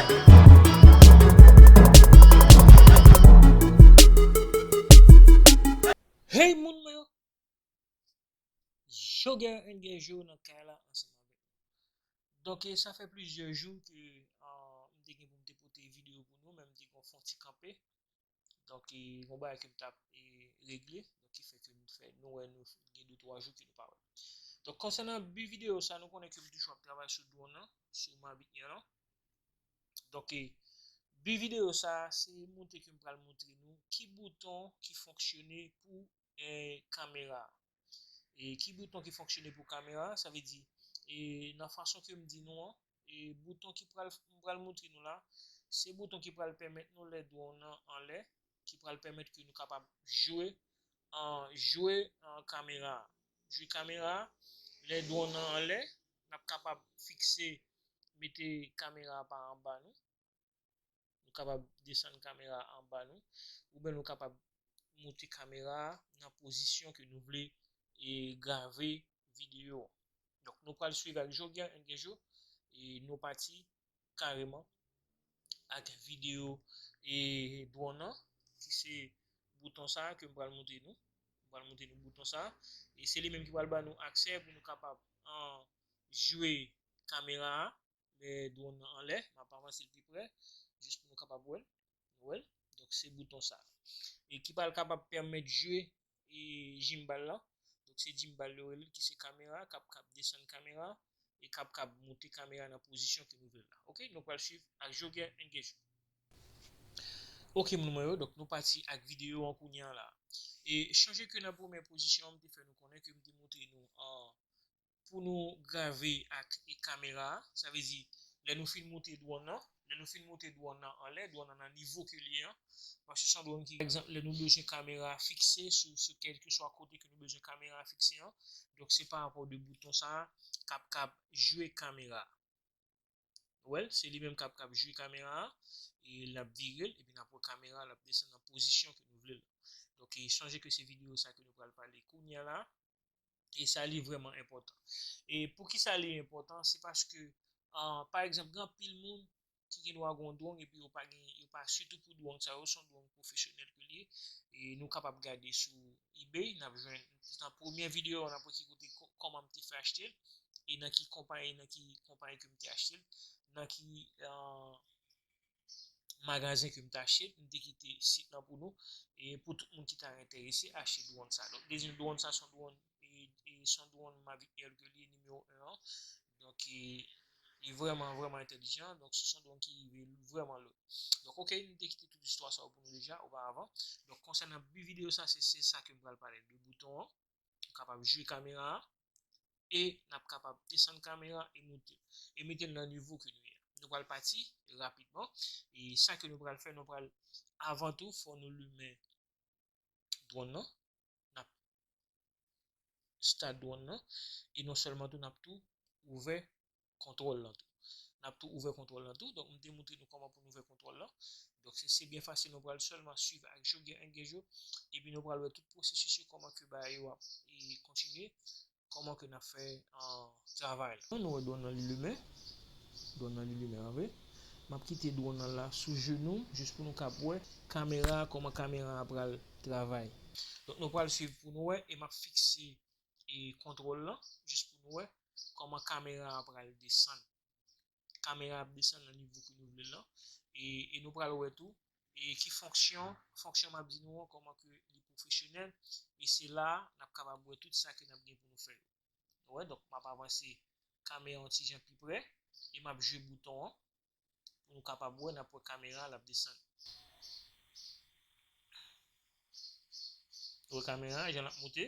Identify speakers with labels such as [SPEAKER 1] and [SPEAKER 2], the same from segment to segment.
[SPEAKER 1] Hey moun mwen yo Jogè and Gen Jou nan kay la ansanm avèk nou Donk e sa fè plizyè jou ke m te gen pou m te pote video pou nou men m te gon fon ti kanpe Donk e yon bagay ke m tap e regle, donk ki fè ke m fè nou wè nou gen 2 3 jou ke nou pa wè m. Donk konsènan bi video sa nou konnen ke m toujou ap travay sou dron nan, sou Mavic Air lan. Donk e bi video sa se montre ke m pral montre nou ki bouton ki fonksyone pou e kamera a. E ki bouton ki fonksyone pou kamera a, sa vle di e nan fason ke m di nou an, e bouton ki pral m pral moutre nou la, se bouton ki pral pèmèt nou lè dwon w nan anlè, ki pral pèmèt ke nou kapab jwe an jwe an kamera a, jwe kamera a, lè dwon w nan anlè, n ap kapab fikse mete kamera a pa anba nou. Nou kapab desann kamera a anba nou, oubyen nou kapab moute kamera a nan pozisyon ke nou vle grave videyo an. Donk nou pral swiv ak Joe Guerrin Guerjo e nou pati kareman ak videyo dwonn an ki se bouton sa a ke m pral moute nou. M pral moute nou bouton sa a e se li menm ki pral ba nou aksè pou nou kapab jwe kamera a. lè dwonn nan anlè, m ap avanse l pi prè jis pou nou kapab wè l, nou wè l, donk se bouton sa e ki pral kapab pèmèt jwe e jimbal lan, donk se jimbal yo rele l ki se kamera k ap kab desann kamera a e k ap kab moute kamera a nan pozisyon ke nou vle l la ok, nou pral swiv ak Jogè Engejman. Ok moun mwen yo, donk nou pati ak videyo an kounya la e chonje ke nan premyè pozisyon an m te fè nou konnen ke m te montre nou an pou nou grave ak kamera a, sa vle di lè nou fin moute dwòn nan, lè nou fin moute dwòn nan anlè, dwòn nan nan nivo ke li ye an, paske se yon dwòn ki, pa egzanp lè nou bezwen kamera a fikse sou kèlkeswa kote ke nou bezwen kamera a fikse an, donk se pa rapò de bouton sa a kap kap jwe kamera a, nou wè l, se li menm kap kap jwe kamera a, e lap vire l, epi nap wè kamera a lap desann nan pozisyon ke nou vle l lan. Donk sonje ke se videyo sa ke nou pral pale kounya la a. E sa li vrèman enpòtan. E pou ki sa li enpòtan, se paske, pa egzanp, gen anpil moun ki gen dwa gen yon dwong epi yo pa gen, yo pa sitou pou dwong sa yo, se yon dwong pwofesyonèl ke li ye. E nou kapab gade sou ebay, n ap jwenn, nan premye videyo a, n ap wè ki kote, kòman m te fè achte l, e nan ki konpayi, nan ki konpayi ke m te achte l, nan ki. magazen ke m ta achte l, m te kite sit lan pou nou e pou tout moun ki ta enterese achte dwonn sa. Donk dezyèm dwonn sa son dwonn e son dwonn Mavic Air ke li ye nimewo 1 an. Donk e li vrèman vrèman entèlijan, donk se son dwonn ki rive vrèman lwen. Donk ok m te kite tout istwa sa yo pou nou deja oparavan. Donk konsènan bi videyo sa se sa ke m pral pale de bouton an, ou kapab jwi kamera a. e nap kapab desann kamera e moute e metel nan nivo ke nou ye a nou pral pati rapidman e sa ke nou pral fè nou pral avan tou fò nou limen dwòn nan nap start dwòn nan e non sèlman tou nap tou ouvè kontwòl lan tou. N ap tou ouvè kontwòl lan tou. Donk m te moutre nou kòman pou n ouvè kontwòl lan. Donk se se byen fasil nou pral sèlman swiv ak jo gen engej yo. Epi nou pral wè tout pwosesis yo kòman ke bagay yo ap kontinye. Kòman ke n ap fè travay la. Nou wè dwòn lan li limen. Dwòn lan li limen an vre. M ap kite dwòn lan la sou jenou m jis pou nou kab wè kamera a kòman kamera a pral travay. Donk nou pral swiv pou nou wè e m ap fikse kontwòl lan jis pou nou wè Koman kamera a pral desann. Kamera ap desann nan nivo ke nou vlel lan. E nou pral wè tou ki fonksyon, fonksyon map di nou an koman ke li pwofesyonèl. E se la nap kapab wè tout sa ke nap gen pou nou fè yo. Nou wè donk map avanse kamera yon ti jan pi prè e map jwe bouton an. Nou kapab wè nap wè kamera lap desann. Wè kamera jan lap moute.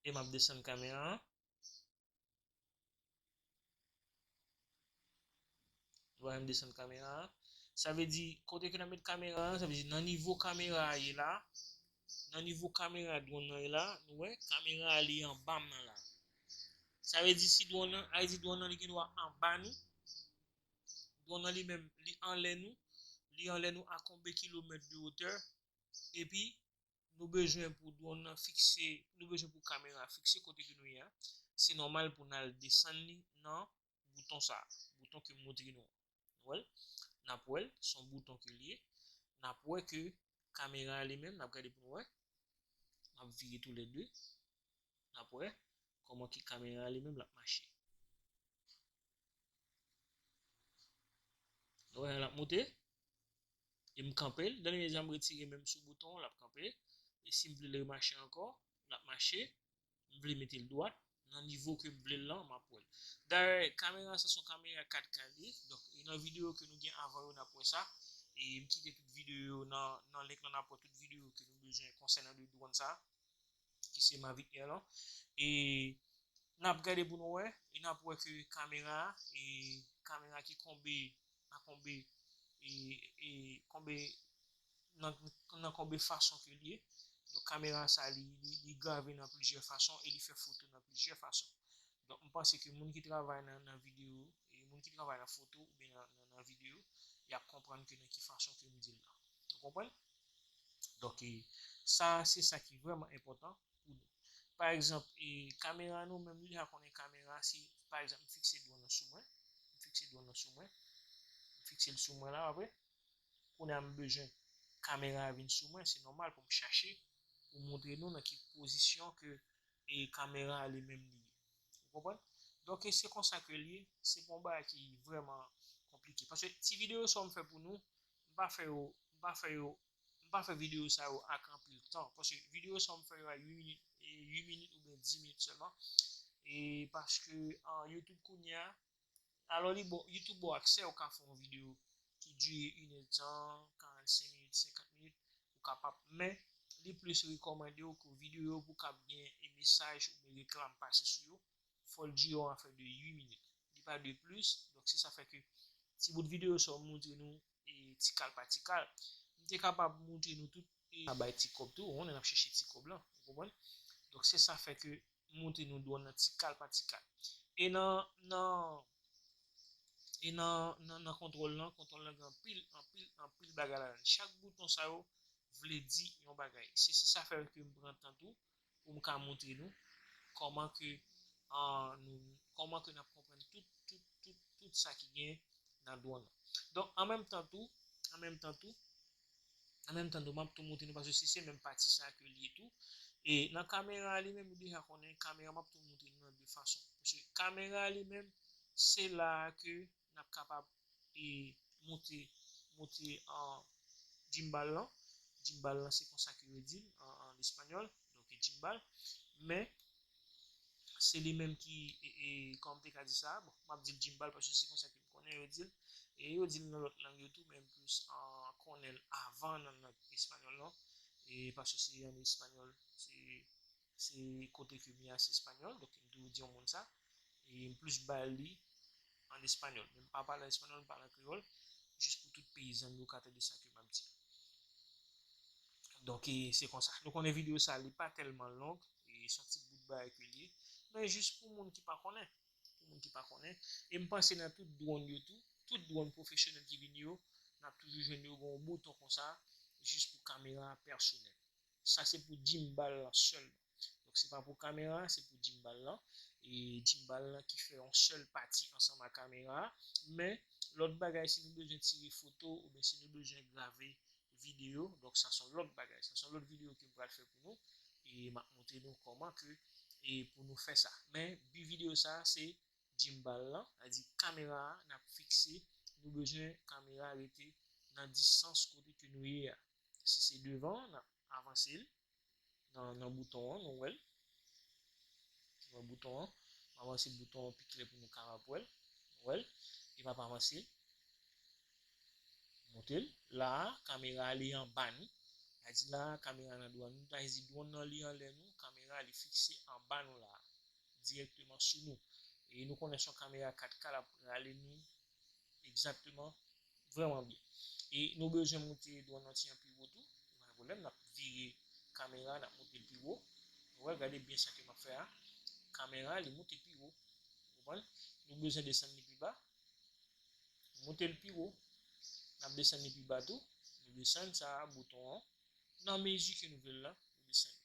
[SPEAKER 1] E map desann kamera an. Wè m desann kamera an. Sa vle di kote ke nan met kamera an, sa vle di nan nivo kamera a ye la. Nan nivo kamera dwon nan ye la, nou wè kamera a li anba m nan la. Sa vle di si dwon nan, Ayiti dwon nan li gen dwa anba nou, dwon nan li menm li anlè nou, li anlè nou a konbe kilomèt de otè, epi nou bezwen pou dwon nan fikse, nou bezwen pou kamera fikse kote ke nou ye a, se nòmal pou n al desann li nan bouton sa bouton ke montre nou wèl nap wèl son bouton ke liye nap wè ke kamera li menm nap gade pou wè nap vire tou lè 2 nap wè kòman ki kamera li menm lap mache nou wè lap moute e m kanpel dènye mezi a m retire menm sou bouton lap kanpe e sim vle l remache ankò lap mache m vle metel dwat nan nivo ke m vlel lan map wèl dayè kamera sa son kamera 4 ka liye donk e nan video ke nou gen avan yo nap wè sa e m kite tout video yo nan link lan nap wè tout video ke nou bezwen konsènan de dwòn sa ki se mavic air lan e nap gade pou nou wè e nap wè ke kamera e kamera ki konbe nan konbe nan konbe fason ke li ye donk kamera sa li grave nan plizyè fason e li fè foto nan plizyè fason donk m panse ke moun ki travay nan video moun ki travay nan foto oubyen nan video yap konprann ke nan ki fason ke m di l lan nou konprann donk sa se sa ki vrèman enpòtan pou nou. Pa egzanp, kamera nou menm deja konnen kamera si pa egzanp m fikse dwòn nan sou mwen, m fikse dwòn nan sou mwen, m fikse l sou mwen la wè, kounye a m bezwen kamera a vin sou mwen, se nòmal pou m chache pou m montre nou nan ki pozisyon ke kamera a li menm li ye. Ou konprann? Donk se konsa ke l ye, se pa yon bagay ki vrèman konplike. Paske ti videyo sa yo m fè pou nou, m pa fè yo, m pa fè yo m pa fè video sa yo ak anpil tan paske video sa yo m fè yo a 8 minit 8 minit oubyen 10 minit sèlman e paske youtube kounye a alò li bon youtube bon aksè ou ka fè yon video ki dure 1 nè tan 45 minit 50 minit ou kapab men li plis rekòmande ou ke video yo pou kab gen e mesaj oubyen reklam pase sou yo fòl dure yon afè de 8 minit li pa dwe plis donk se sa fè ke ti bout video sa yo m moutre nou ti kal pa ti kal. M te kapab montre nou tout e ka bay ti kòb tou, on lè n ap chèche ti kòb lan, ou konprann. Donk se sa fè ke m montre nou dwòn nan ti kal pa ti kal. E nan, nan, e nan, nan, nan kontwòl lan, kontwòl lan gen anpil, anpil, anpil bagay ladan l. Chak bouton sa yo vle di yon bagay. Se, se sa fè ke m pran tan tou pou m ka montre nou kòman ke nou kòman ke nap konprann tout tout tout tout sa ki gen nan dwonn lan. Donk an menm tan tou an menm tan tou an menm tan tou map tou montre nou paske si se menm pati sa ke li ye tou e nan kamera a li menm ou deja konnen kamera map tou montre nou nan 2 fason paske kamera a li menm se la a ke n ap kapab moute moute gimbal lan gimbal lan se konsa ke yo di l an espanyòl donk gimbal men se li menm ki kòman m te ka di sa bon m ap di l gimbal paske se konsa ke m konnen yo di l e yo di l nan lòt lang yo tou men m plis konnen l avan nan lang espanyòl lan paske se an espanyòl se Se kote ke mi a se español, donk m toujou di yon moun sa, e m plis ba l li an español. Men m pa pale an español, m pale an kreyòl, jis pou tout peyizan m yo ka tande sa ke m ap di. Donk e se konsa. Nou konnen videyo sa li pa tèlman long, e s on ti bout bagay ke l ye, men jis pou moun ki pa konnen, pou moun ki pa konnen. E m panse nan tout dwonn yo tou, tout dwonn pwofesyonèl ki vini yo, n ap toujou jwenn yo gen yon bouton konsa, jis pou kamera pèsonèl. sa se pou gimbal lan sèlman donk se pa pou kamera a se pou gimbal lan e gimbal lan ki fè yon sèl pati ansanm a kamera a men lòt bagay si nou bezwen tire foto oubyen si nou bezwen grave video donk sa son lòt bagay sa son lòt video ke m pral fè pou nou e m ap montre nou kòman ke e pou nou fè sa men bi video sa se gimbal lan sa di kamera a n ap fikse nou bezwen kamera rete nan distans kote ke nou ye a. Si se devan an, n ap avanse l nan bouton an, nou wè l. Nou wè bouton an. M avanse bouton an pi klè pou nou kapab wè l. Nou wè l. E m ap avanse l. M monte l. La a, kamera a li anba nou. Sa di la a, kamera nan dwàn nou. Sa vle di dwòn nan li anlè nou, kamera li fikse anba nou la a, dirèkteman sou nou. E nou konnen s on kamera 4K, l ap rale nou Exactement Vreman byen. E nou bezwen moute dron nan ti an pi wo tou. E pa gen pwoblèm nap vire kamera nap moutel pi wo. Nou wè gade byen sa ke map fè a. Kamera li moute pi wo. Ou konprann? Nou bezwen desann li pi ba. Nou moutel pi wo. Nap desann li pi ba tou. Nou desann sa a bouton an nan mezi ke nou vle l lan. Nou desann li.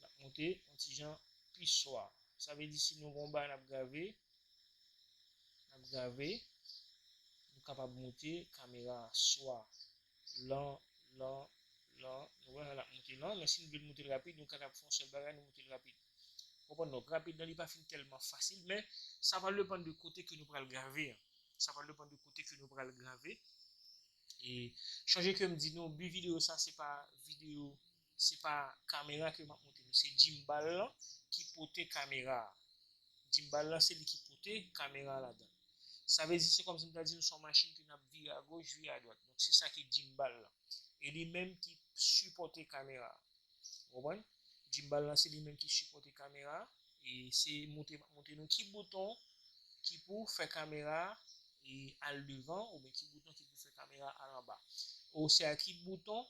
[SPEAKER 1] Nap moute yon ti jan pi swa. Sa vle di si nou gen yon bagay nap grave, nap grave, nou kapab moute kamera a swa lan, lan, lan, nou wè lap moute lan, men si nou vle moute l rapid nou ka tap fè yon sèl bagay nou moute l rapid. Ou konprann donk rapid lan li pa fin tèlman fasil men sa pral depann de kote ke nou pral grave an. Sa pral depann de kote ke nou pral grave e chonje kem di nou bi videyo sa se pa videyo Se pa kamera ke map monte nou se jimbal lan ki pote kamera jimbal lan se li ki pote kamera ladann sa vle di se kòmsi m ta di nou son machin ke nap vire a goch vire a dwat donk se sa ki jimbal lan e li menm ki sipòte kamera ou konprann jimbal lan se li menm ki sipòte kamera e se monte map monte nou ki bouton ki pou fè kamera al devan oubyen ki bouton ki pou fè kamera al anba ou se a ki bouton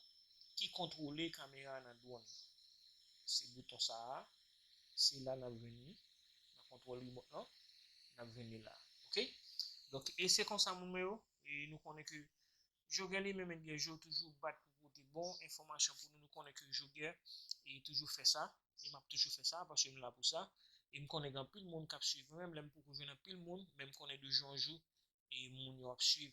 [SPEAKER 1] ki kontwole kamera nan dwonn nan. Se bouton sa a, se la nap jwenn li, nan kontwòl remot lan, nap jwenn li la a. Ok. Donk e se konsa moun mwen yo, e nou konnen ke Jogè li menm ebyen Joe toujou bat pou pote bon enfòmasyon pou nou, nou konnen ke Jogè e toujou fè sa, e map toujou fè sa paske m la pou sa, e m konnen gen anpil moun kap swiv mwen, menm lè m poko jwenn anpil moun, men m konnen de jou an jou e moun yo ap swiv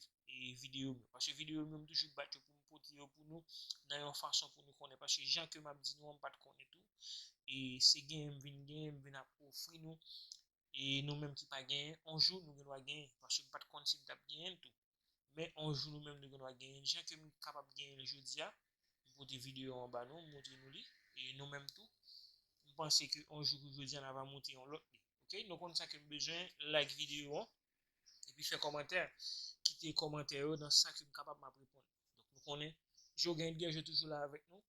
[SPEAKER 1] video m yo paske video m yo m toujou bat yo pou m pote yo pou nou nan yon fason pou nou konnen paske jan ke m ap di nou an m pat konnen tou e se genyen m vin genyen m vin ap ofri nou e nou menm ki pa genyen on jou nou gen dwa genyen paske m pat konn si m tap genyen l tou men on jou nou menm nou gen dwa genyen l jan ke m kapab genyen l jodi a m pote video an ba nou m montre nou li e nou menm tou m panse ke on jou kou jodi a n ava monte yon lòt li ok nou konn sa ke m bezwen like video an. epi fè kòmantè kite kòmantè yo nan sa kem kapab map reponn donk nou konnen jo gen bgy yo toujou la avèk nou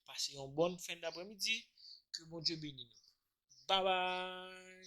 [SPEAKER 1] pase yon bòn fen daprè midi ke Bondye beni nou babay.